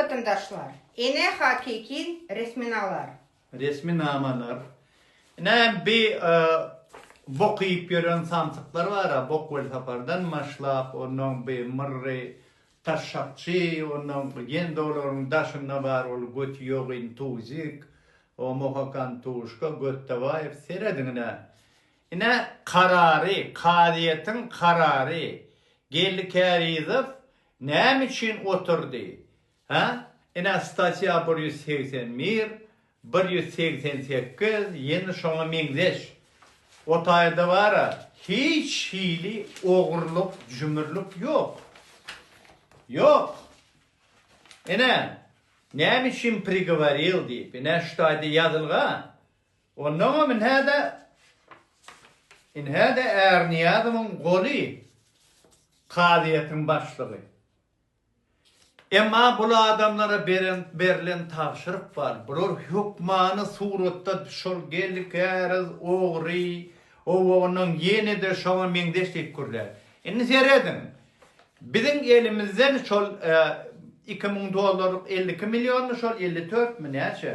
Watandaşlar, ene hakyky resminalar. Resminamalar. Ine bi bok iýip ýören samsyklar bara, bok welsapardan maşlap, onnoň bi myrry taşşakçy, onnoň ýende olaryň daşynda bar ol göti ýok intuzik, o mohakan tuşka, Götdabaýew, serediňine. Ine karary, kazyýetiň karary, geldi Kärizow, Näme üçin oturdy? Hä? Ine statýa bir ýüz segsen bir, bir ýüz segsen sekiz, ýene şoňa meňzeş. O taýda bar-a, hiç hili ogurlyk, jümürlik ýok. Ýok. Ine, näme üçin prigoworil diýip, ine şu taýda ýazylgy-a. Onnoňam inhä-de, inhä-de Ärnyýazowyň goly kazyýetiň başlygy. Emma bul adamlara beren, berlen tabşyryk bar. Bular hökmany suratda şol geldi käriz, ogry, owagynyň ýene-de şoňa meňzeş diýip gürlär. Indi serediň, biziň elimizden şol iki müň dollarlyk elli iki milliony şol elli dörtmi, näçe?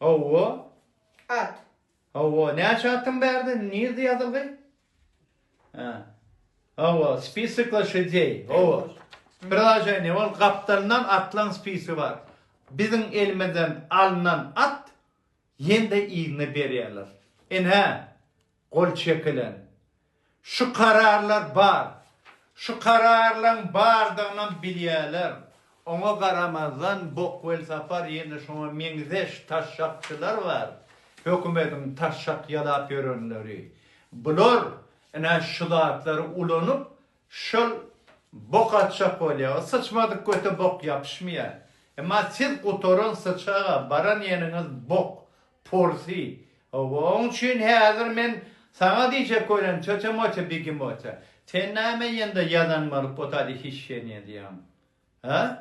Hawa. At. Hawa, näçe atyň bärde? Nirde ýazylgy? Ha. Hawa, spisik loşadýeý. Hawa. Priloženiýe bol gapdalyndan atlaň spisi bar. Biziň elimizden alnan at ýende yzyna berýärler. Ine. gol çekilen şu kararlar bar. Şu kararlaryň bardygynam bilýärler. Oňa garamazdan bok welsapar ýene şoňa meňzeş taşşakçylar bar, hökümediň taşşak ýalap ýörenleri. Bular ine şu zatlary ulanyp şol bok atjak bolýar. O syçmadyk göte bok ýapyşmaýar. Emma siz gutaran syçaga baran ýeriňiz bok. Porsy, Hawa, oň üçin häzir men saňa diýjek welin, tötemote bigimote, sen näme ýende ýazan bolup otady hişşeniýe diýýäň? Hä?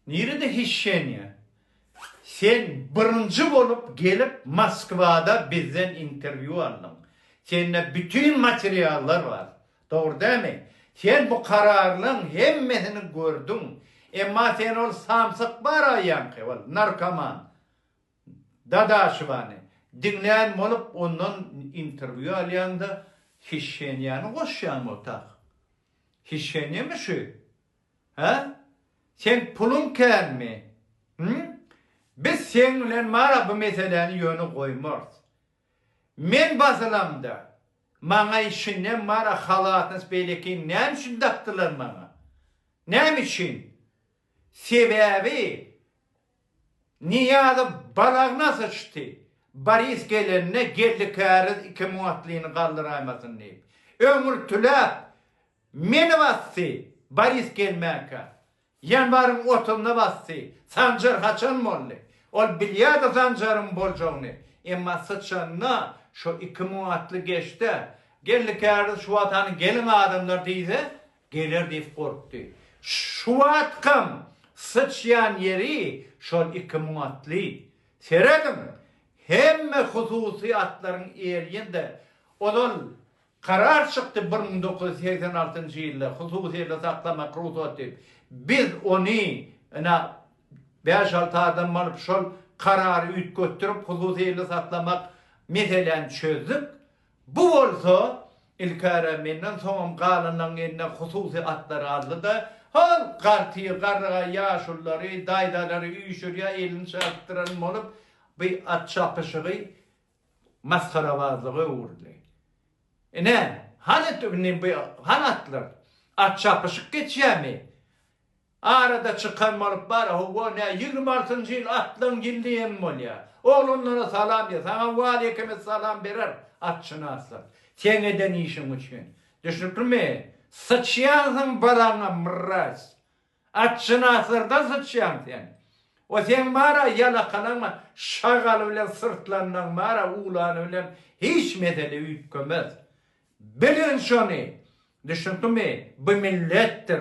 Nirede hişşeniýe? Sen birinji bolup gelip Moskwada bizden interwýu aldyň. Sende bütin materiallar bar. Dogry dämi? Sen bu kararlaň hemmesini gördüň. Emma sen ol samsyk bar aýaňky, ol narkoman, Dadaşowany diňlän bolup ondan interwýu alýaňda hişhenýany goşýaňmy otak? Hişhenýami şu? Hä? Seň puluň känmi? Him? Biz seň bilen mara bu meseläni ýöne goýmarys. Men basylamda maňa işinem mara halatns beýlekini näme üçin dakdylar maňa? Näme üçin? Sebäbi Nyýazow balagyna syçdy. Boris gelende Geldi käriz iki müň atlyny galdyraýmasyn diýip, öňürtiläp meni basdy. Boris gelmänkä, ýanwaryň otuzynda basdy. Sanjar haçan boldy? Ol bilýärdi Sanjaryň boljagyny. Emma syçanda şo iki müň atly geçdi-ä. Geldi käriz şu wagt hany geliň adamlar diýse, Geler diýip gorkdy. Şu wagtkam syçýan ýeri şol iki müň atly. Serediň, hemme hususy atlaryň erýende, ozal karar çykdy bir müň dokuz ýüz segsen altynjy ýylda hususyda saklamak rugsat diýip. Biz ony, ine, bäş-alty adam alyp şol karary üýtgetdirip hususyda saklamak meseläni çözdük. Bu bolsa, ilkäre menden soňam galanlaryň eline hususy atlar aldy-da, Hol, garty, garry, ýaşulylary, daýzalary üýşürýär, elini çarpdyran bolup, bu at çapyşygy masgarabazlyga öwrüldi. Ine, hany indi bu, hany atlar? At çapyşyk geçýärmi? Arada çykan bolup bar howwa nä ýigrimi altynjy ýyl atlaň ýyldy hem bolýa. Oglanlara salam diýe saňa waleýkim essalam berer atşynaslyk. Seň eden işiň üçin. Düşnüklimi? Syçýansyň balaňa mraz. Atşynaslardan syçýaň sen. O seň bara ýalakalaňa şagaly bilen syrtlanyň bara uglany bilen hiç mesele üýtgemez. Bilgin şony. Düşnüklimi? Bu milletdir.